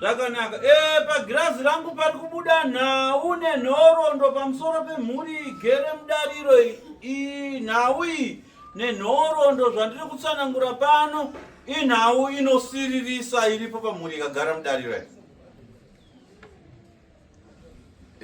zvakanaka e, eh, pagirazi rangu pari kubuda nhau nenhoroondo pamusoro pemhuri igere mudariro iyi nhau iyi Nenhoroondo zvandiri kutsanangura pano inhau inosiririsa iripo pamhuri ikagara mudariro iyi.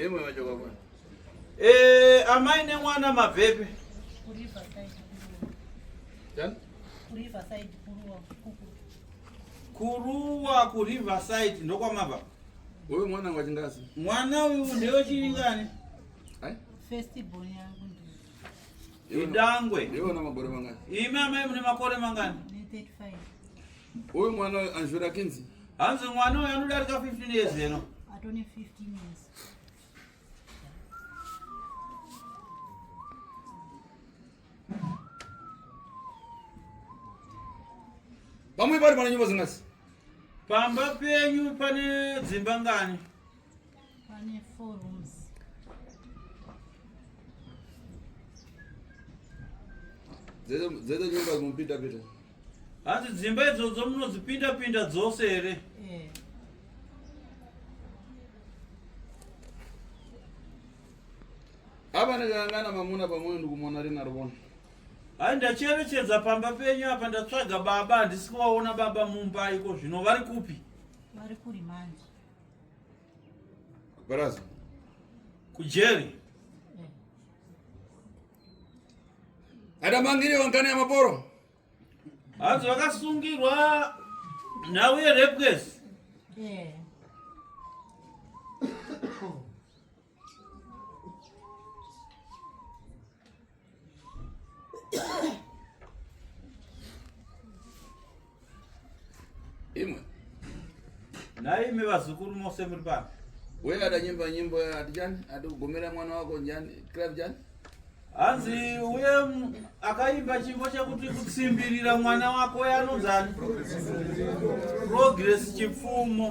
Imwe wacho kwakwa. Eh, amai nemwana mabvepi? Kuriva side kuruwa. Jan? Kuriva side kuruwa. Kuruwa ku river side ndokwamabva. Wewe mwana wa chingazi? Mwana uyu ndewe chiringani? Hai? First born yangu. Idangwe. Iwe una makore mangani? Imi amai mune makore mangani? 35. Uyu mwana anzvira kinzi? Hanzi mwana uyu anodarika 15 years eno. Atone 15 years. Pamwe pari pana nyumba zingasi? Pamba penyu pane dzimba ngani? Pane four rooms. Dzedze nyumba dzinopinda pinda. Hanzi dzimba idzodzo munodzipinda pinda dzose here? Eh. Apa ndakangana mamuna pamwe ndikumona rina rivona. Hai ndacherechedza pamba penyu apa ndatsvaga baba handisi kuvaona baba mumba iko zvino vari kupi? Vari kuri manje. Baraza. Kujeri. Ada mangiri wangani ya maporo. Hanzi vakasungirwa nhau yerepwesi. Yeah. imwe nhai imi vazukuru mose muri pano we adanyimba nyimbo ati chani ati kugomera mwana wako njani club chani hanzi uye akaimba chimbo chekuti kutsimbirira mwana wako yanonzani progress chipfumo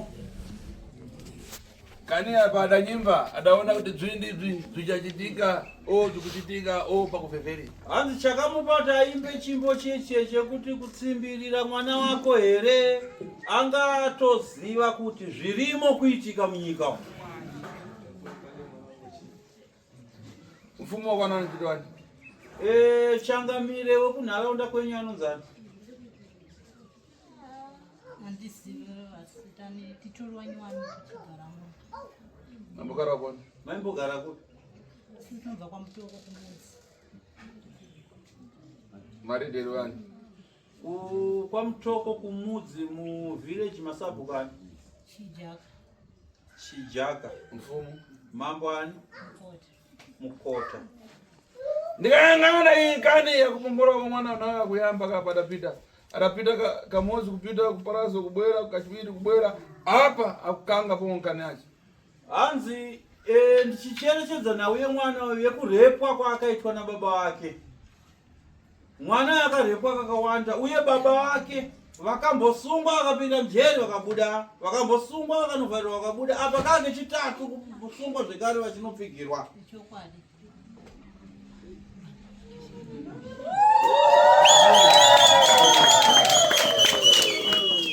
kani apa adanyimba adaona kuti dzvindi dzvi zvichachitika o zvikuchitika o pakuvhevheri hanzi chakamubata aimbe chimbo cheche chekuti kutsimbirira mwana wako here anga atoziva kuti zvirimo kuitika munyika umu Mfumo wakwana anochiti wani? Eh, changamire wekunharaunda kwenyu anonzani? Mambogara kwani? Maimbogara kupi? Mari dero wani? Ku- kwamutoko kumudzi muvillage masabhuku ani Chijaka, chijaka mfumu mambo ani Mukota. mukota ndikayang'ana iyi kani yakupombora kwa mwana unaka kuyamba kapa adapita adapita ka- kamozi kupita kuparazo kubwera kachiviri kubwera apa akukanga pomwe nkani yacho hanzi eh, ndichicherechedza nhau yemwana uyu yekurepwa kwaakaitwa nababa wake Mwana akarepwa kakawanda uye baba vake vakambosungwa vakapinda mjeri vakabuda vakambosungwa vakanovharirwa vakabuda apa kaa kechitatu kusungwa zvekare vachinopfigirwa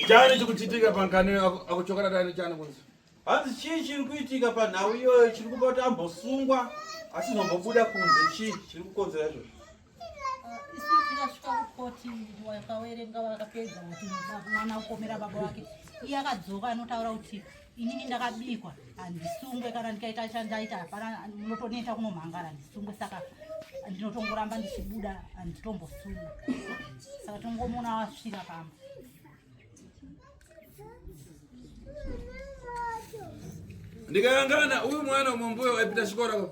chani chikuchitika pankani akuchokanatani chani kunzi Hanzi chii chiri kuitika panhau iyoyo chiri kupa kuti ambosungwa asizombobuda kunze chii chiri kukonzera izvozvo isu tikasvika kukoti wakawerenga vakapedza kuti mwana ukomera baba wake iye akadzoka anotaura kuti inini ndakabikwa handisungwe kana ndikaita chandaita hapana munotoneta kunomhangara handisungwe saka ndinotongoramba ndichibuda handitombosungwa saka tongomuona wasvira pamba ndikayangana uyu mwana umwe mbuya waipinda chikoro ko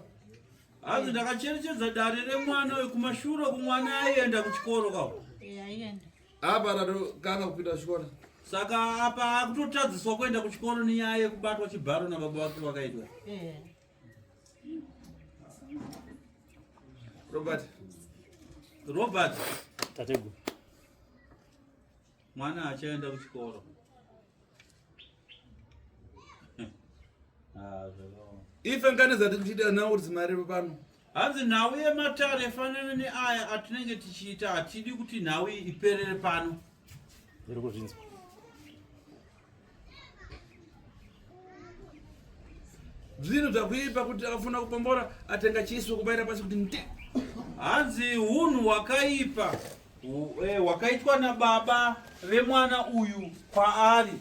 hanzi ndakacherechedza dare remwana uyu kumashure kumwana aienda kuchikoro ka apa ratokanga kupinda chikoro saka apa akutotadziswa kuenda kuchikoro nenyaya yekubatwa chibharo nababa vake vakaitwa robert robert tateguru Mwana achaenda kuchikoro. Ah, Ife ngane dzatiri kuchiita nhau kuti zimariro pano. Hanzi nhau yematare yafanana neaya atinenge tichiita hatidi kuti nhau iperere pano. Ndiri kuzvinzwa. zvinhu zvakuipa kuti akafuna kupombora atenga chiso kubaira pasi kuti nde hanzi hunhu hwakaipa eh, hwakaitwa nababa vemwana uyu kwaari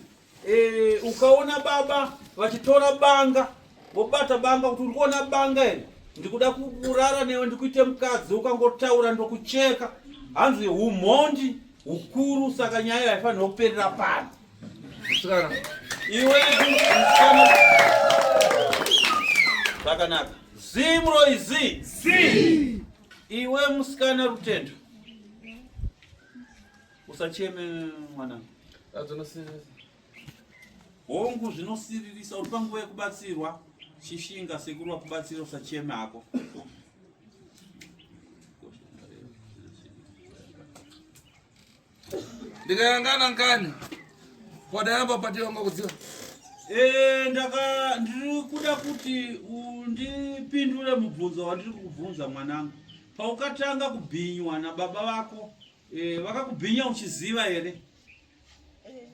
eh, ukaona baba vachitora banga Wobata banga kuti uri kuona banga iri. Ndikuda kurara newe ndikuite mukadzi ukangotaura ndokucheka. Hanzi humhondi hukuru saka nyaya haifanira kuperera pano. Musikana. Iwe musikana. Zvakanaka. Zimro izi. Zii. Iwe musikana Rutendo. Usacheme mwanangu. Adzonosirira. Hongu zvinosiririsa uri panguva yekubatsirwa chishinga sekuru vakubatsira usacheme hako. Ndikayangana ngani wadayamba pati wanga kudziwa Eh, ndaka ndiri kuda kuti undipindure mubvunzo wandiri kukubvunza mwanangu paukatanga kubhinywa nababa vako eh, vakakubhinya uchiziva here Eh.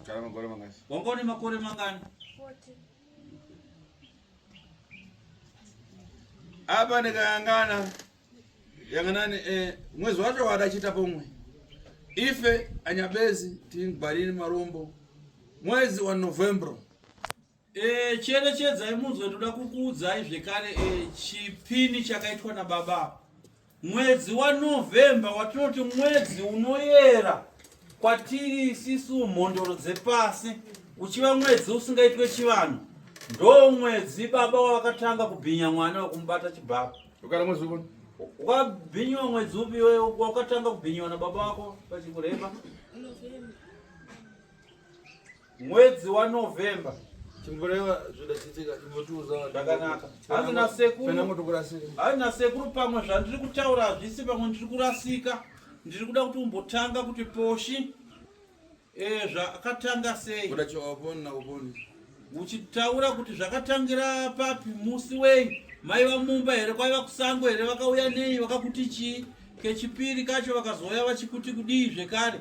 Kana makore mangani? Wanga une makore mangani? 40. Apa ndikayangana yanganani eh, mwezi wacho wadachita pomwe ife anyabezi tingwarini marombo mwezi wa novembro E, cherechedzai munzwe ndoda kukuudzai zvekare e, chipini chakaitwa nababa mwedzi wanovhemba watinoti mwedzi unoyera kwatiri isisu mhondoro dzepasi uchiva mwedzi usingaitwe chivanhu ndo mwedzi baba wavakatanga kubhinya mwana wekumubata chibaba ukabhinyiwa mwedzi upi iwe wakatanga kubhinyiwa nababa wako pachikureba mwedzi wanovember hanzi nasekuru pamwe zvandiri kutaura hazvisi pamwe ndiri kurasika ndiri kuda kuti umbotanga kuti poshi eh, zvakatanga sei uchitaura kuti zvakatangira papi musi wei maiva mumba here kwaiva kusango here vakauya nei vakakuti chii kechipiri kacho vakazouya vachikuti kudii zvekare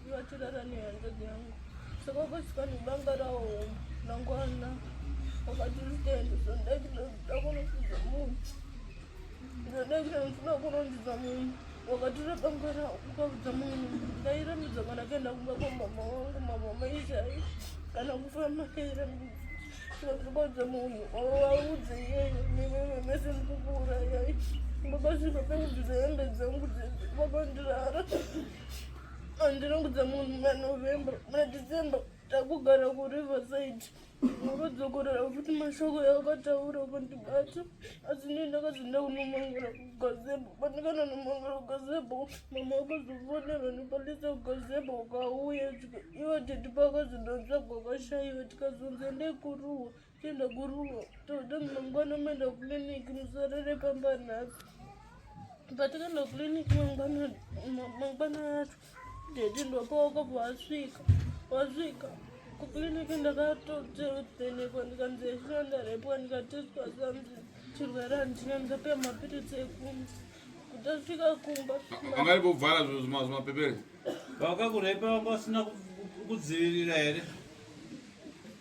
Vatirara nehanzvadzi yangu saka vakasvika nebanga rawo mangwana vakati rutendo zvoda chinoda kunofunza munhu zvoda chinoda kunonziza munhu wakatura banga rawo ukaudza munhu ndairamidza kana kaenda kumba kwamama wangu mama maizai kana kufamba ndairamidza sakaudza munhu waudze iyeyo newewe mese mukukura yai vakasvika pekubvisa hembe dzangu vakandirara andiringudza munhu manovember madecember takugara kuriverside urodzokorera futi mashoko yaakataura kundibata asi ndii ndakazoenda kunomangura kugazebo pandikana nomangura kugazebo mama akazofonerwa nepalisa kugazebo ukauya tika ivo tete pakazondotsvagwa kwashaiwa tikazonzi endai kuruwa Tenda guruwo toda mangwana umeenda kuclinic musorere pamba nhasi patakaenda kuclinic mangwana mangwana acho dedi ndopaoka pawasvika wasvika kuclinic ndakatotenekwa ndikanzi yechina ndarepwa ndikatestwa sanzi chirwere handina ndikapiwa mapiritsi ekumba kutasvika kumba angari kuvhara zvimapepere vakakurepa vanga vasina kudzivirira here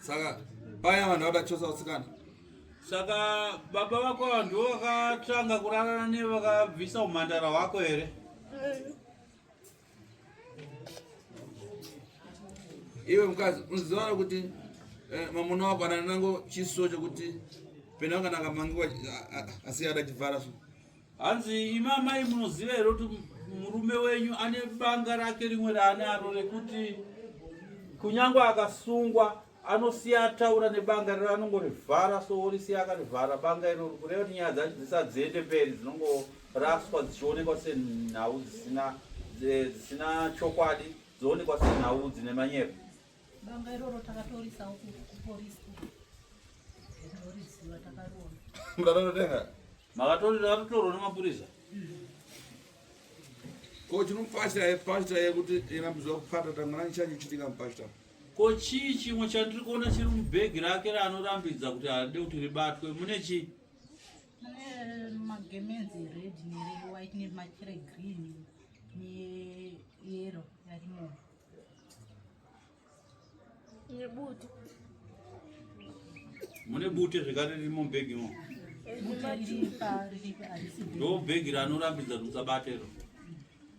saka paya vanhu vada chosa usikana saka baba vako vanhu vakatanga kurarana ne vakabvisa umhandara hwako here iwe mukadzi unoziva kuti eh, mamuna wako ananango chiso chokuti pena kana akamangiwa asi yada chivhara so hanzi imi amai munoziva here kuti murume wenyu ane banga rake rimwe raanaro rekuti kunyange akasungwa anosiya ataura nebanga rero anongorivhara so orisiya akarivhara banga iro kureva kuti nyaya dzacho dzisadziende mberi dzinongoraswa dzichionekwa senhau dzisina dzisina chokwadi dzoonekwa senhau dzine manyepo banga iroro takatorisawo kuporisi ndoriziva takariona Makatotorwa nemapurisa. Ko chinomupasha here pastor here kuti ina muzwa kupata tangana chanyu chitika mupastor. Ko chii chimwe chandiri kuona chiri mubhegi rake raanorambidza kuti haade kuti ribatwe mune chii? magemenzi red newhite nemachira green neyero yarimo Nebutu. Mune bute zvekare riri mubhegi mo. Ndo bhegi ranorambidza kuti musabatero.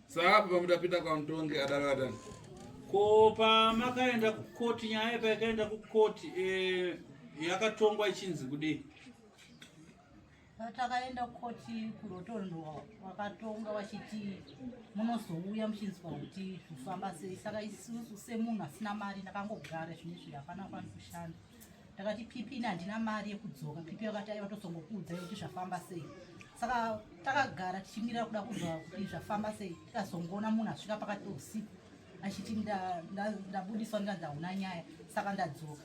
Saka pamutapinda kwamutongi adaro atani. Ko pamakaenda kukoti nyaya payakaenda kukoti eh, yakatongwa ichinzi kudii? Patakaenda koti kurotondo wakatonga wachiti munozouya muchinzwa kuti zvofamba sei saka isusu semunhu asina mari ndakangogara zvine zviri hapana kwani kushanda ndakati pipi ini handina mari yekudzoka pipi yakati aiva tozongokuudzai kuti zvafamba sei saka takagara tichimirira kuda kuzwa kuti zvafamba sei tikazongoona munhu asvika pakati peusiku achiti ndabudiswa ndikandahuna nyaya saka ndadzoka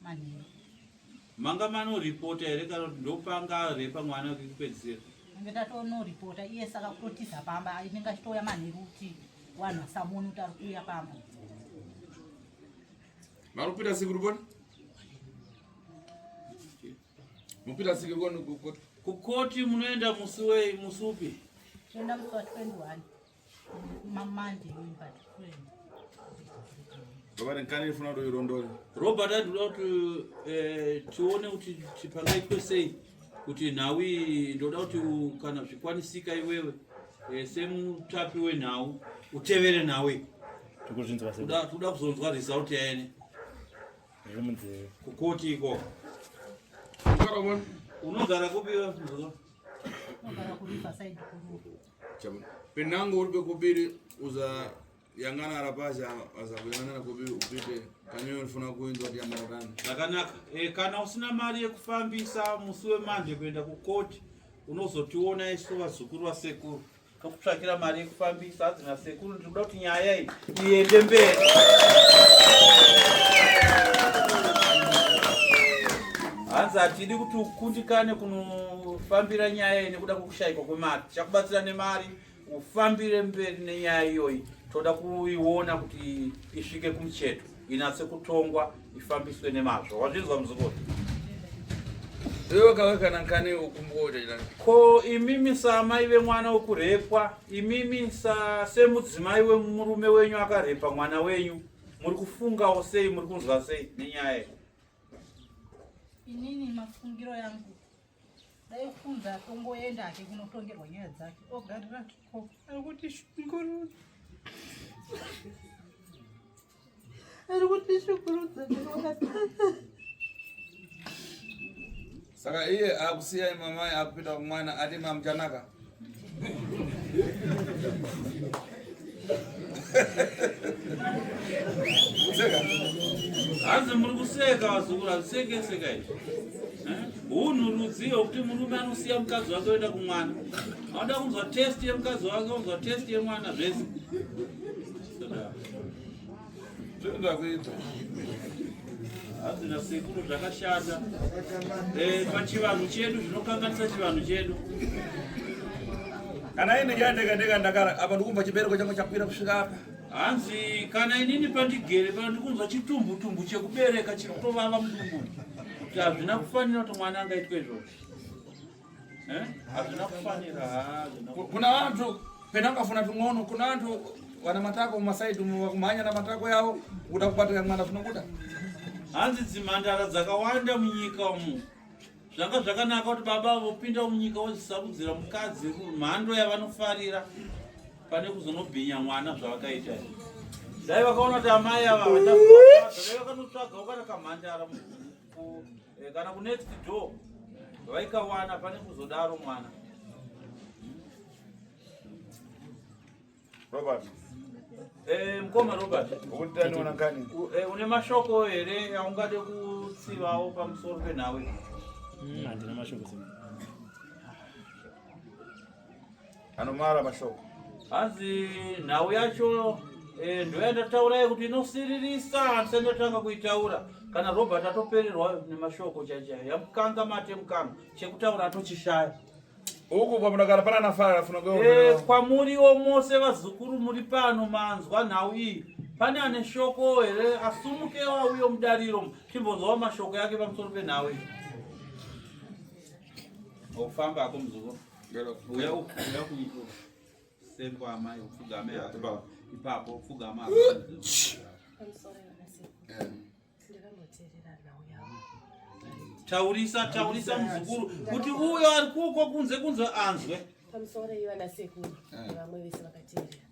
manheru manga mano reporter here kana kuti ndopanga repa mwana wekupedzisira ange tatono reporter iye saka kutotiza pamba inenge achitouya manheru kuti wanhu asamoni kuti ari kuuya pamba marupita siku rikoni mupita siku rikoni kukoti kukoti munoenda musi wei musi upi toenda musi wa 21 robert adoda kuti eh, tione kuti pangaitwe sei kuti nhau iyi ndoda kuti kana zvikwanisika iwewe eh, semutapi wenhau utevere nhau iyi tikuda kuzonzwa result yaene kukoti iko unogara kupi Penango uri pekubiri uza yangana arapasha azakuyanana kubi upite kanywe unofuna kuinzwa kuti yangana tani zvakanaka e, kana usina mari yekufambisa musi wemanje kuenda kukoti unozotiona isu vazukuru vasekuru tokutsvakira mari yekufambisa hadzi nasekuru ndiri kuda kuti nyaya iyi iende mberi hanzi hatidi kuti ukundikane kunofambira nyaya iyi nekuda kushaikwa kwemari tichakubatsira nemari ufambire mberi nenyaya iyoyi toda kuiona kuti isvike kumucheto inatse kutongwa ifambiswe nemazvo wazvinzwa muzukuru ko imimi saamai vemwana wekurepwa imimi semudzimai wemurume wenyu akarepa mwana wenyu muri kufungawo sei muri kunzwa sei nenyaya inini mafungiro yangu dai kufunza atongoenda hake kunotongerwa nyaya dzake ogarira ko ari kuti shungurudza ari kuti shungurudza saka iye akusiya imamai akupinda kumwana ati mamuchanaka hanzi muri kuseka vazukuru hazvisekeseka izvi hunhu rudzii hwekuti murume anosiya mukadzi wake oenda kumwana anoda kunzwa testi yemukadzi wake onzwa testi yemwana zvese Zvinoda kuita. Hazvina sekuru zvakashata. Eh, pachivanhu chedu zvinokanganisa chivanhu chedu. Kana ini ndiyandega ndega ndakara apa ndikumva chibereko changu chakwira kusvika apa. Hanzi kana inini pandigere pano ndikunzwa chitumbu tumbu chekubereka chiri kutovava mudumbu. Hazvina kufanira kuti mwana angaitwe izvozvo. Eh? Hazvina kufanira hazvo. Kuna vantu pena ukafuna tun'ono kuna vantu vana matako mumasaidi umo vakumhanya na matako yavo kuda kubatira mwana zvinobuda. Hanzi dzimhandara dzakawanda munyika umu zvanga zvakanaka kuti baba vopinda munyika vozisarudzira mukadzi mhando yavanofarira pane kuzonobhinya mwana zvavakaita dai vakaona kuti amai ava vachaaakanotsvaga ukana kamhandara Eh, kana ku next door vaikawana pane kuzodaro mwana Robert. Eh, mkoma Robert. Ukutani unakani? Eh, une mashoko here aungade kutsivawo pamusoro penhawe? Hmm, handina mashoko sema. Anomara mashoko. Hanzi nhau yacho eh, ndoyandataurayo kuti inosiririsa handisati ndatanga kuitaura kana Robert atopererwa nemashoko chaichai yamukanga mate mukanga chekutaura atochishaya uku kwamunogara pana nafara afuna e, kwamuriwo mose vazukuru muri pano manzwa nhau iyi pane ane shoko here asumuke wauyo mudariro timbonzwawo mashoko yake pamusoro penhau iyi ofamba ako muzukuru uya uya kuiko sengwa amai upfugame ipapo upfugama taurisa taurisa muzukuru kuti uyo ari kuko kunze kunzwe anzwe pamusoro iva nasekuru eh. vamwe vese vakateerera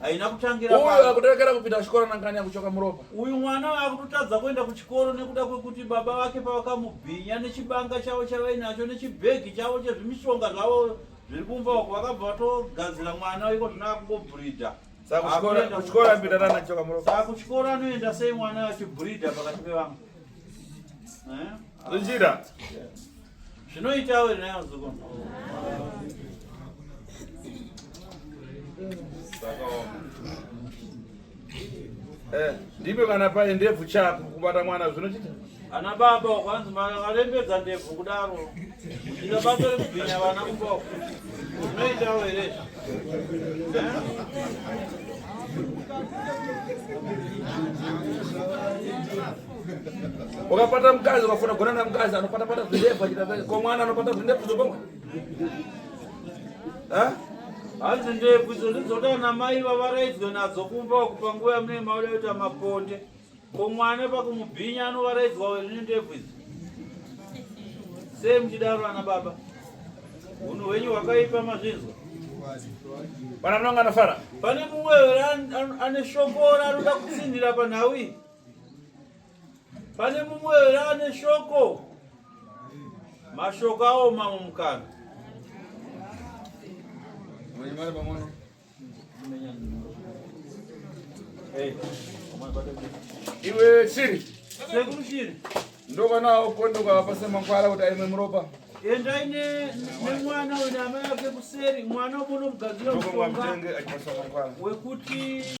haina kutangira uyu akutorekera kupinda kuchikoro nangani akuchoka muropa uyu mwana akutotadza kuenda kuchikoro nekuda kwekuti baba vake pavakamubhinya nechibanga chavo chavainacho nechibhegi chavo chezvimishonga zvavo zviri kumba uko vakabva vatogadzira mwana iko zvino akungobhurida saka kuchikoro anoenda sei mwana achibhurida pakati pevamwe eh? zvichida zvinoitawo here nayo muzukuru eh, ndipe kana paye ndebvu chako kubata mwana zvinochita ana baba wakwanzi makarembedza ndebvu kudaro ina bato rekubhinya vana kumboko zvinoitawo here eh? Ukapata mkazi ukafuna kugona na mkazi anopata pata zvindefu achita kwa mwana anopata zvindefu zobonga. Eh? Hanzi ndefu idzo ndidzoda na mai vavaraidzwe nadzo kumba wakupa nguva yamune mauda yoita maponde. Ko mwana pakumubhinya anovaraidzwa wena ndefu idzo. Sei mchidaro ana baba? Unhu hwenyu hwakaipa mazvinzwa. Pana mnanga anafara. Pane mumwe ane shokora anoda kutsindira panhau iyi. Pane mumwe here ane shoko? Mashoko awo mamwe mukana. Iwe shiri. Sekuru shiri. Ndokanawo kondoka pasema kwala kuti aimwe muropa. Endai ne nemwana wena amai ake kuseri mwana ubonomugadzira mushonga wekuti